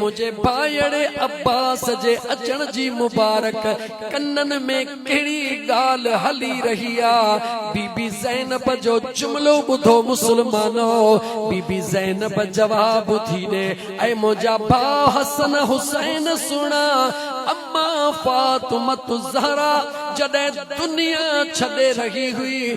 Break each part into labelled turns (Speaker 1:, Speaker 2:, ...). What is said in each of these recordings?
Speaker 1: منهنجي ڀائيڙي عباس جي اچڻ جي مبارڪ ڪنن ۾ ڪهڙي ڳالهه هلي رهي آ. بي بي زينب جو جملو ٻڌو مسلمانو! بي بي زينب جواب ٿي ڏي، اي منهنجا ڀاء حسن حسين سڻ! امان فاطمة الزهراء جڏهن دنيا ڇڏي رهي هئي،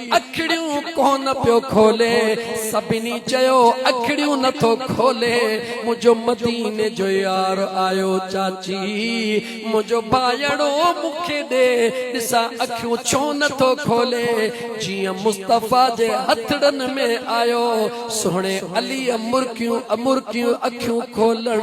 Speaker 1: اکڙيون ڪونه پيو کولي، سڀني چيو اکڙيون نٿو کولي، منهنجو مديني جو يار آيو چاچي منهنجو ڀائيڙو مون کي ڏي ڏسان اکيون ڇو نٿو کولي، جيئن مصطفيٰ جي هٿڙن ۾ آيو سهڻي عليء مرڪيون مرڪيون اکيون کولڻ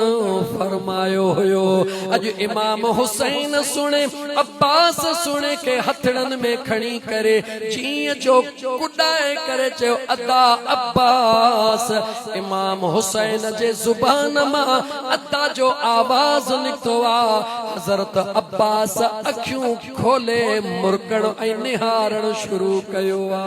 Speaker 1: فرمايو هيو، اڄ امام حسين سهڻي. عباس سهڻي کي هٿڙن ۾ کڻي ڪري جيئن جو ڪڏائي ڪري چيو ادا عباس! امام حسين جي زبان مان ادا جو آواز نڪتو آ. حضرت عباس اکيون کولي مرڪڻ ۽ نهارڻ شروع ڪيو آ.